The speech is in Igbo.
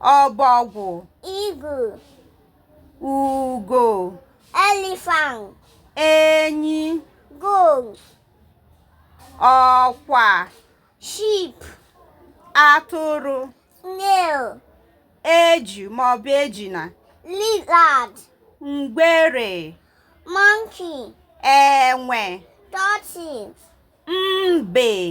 ọbọgwụ eagle ugo elephant enyi goat ọkwa sheep atụrụ snail eju maọbụ ejuna lizard ngwere monkey enwe tortoise mbe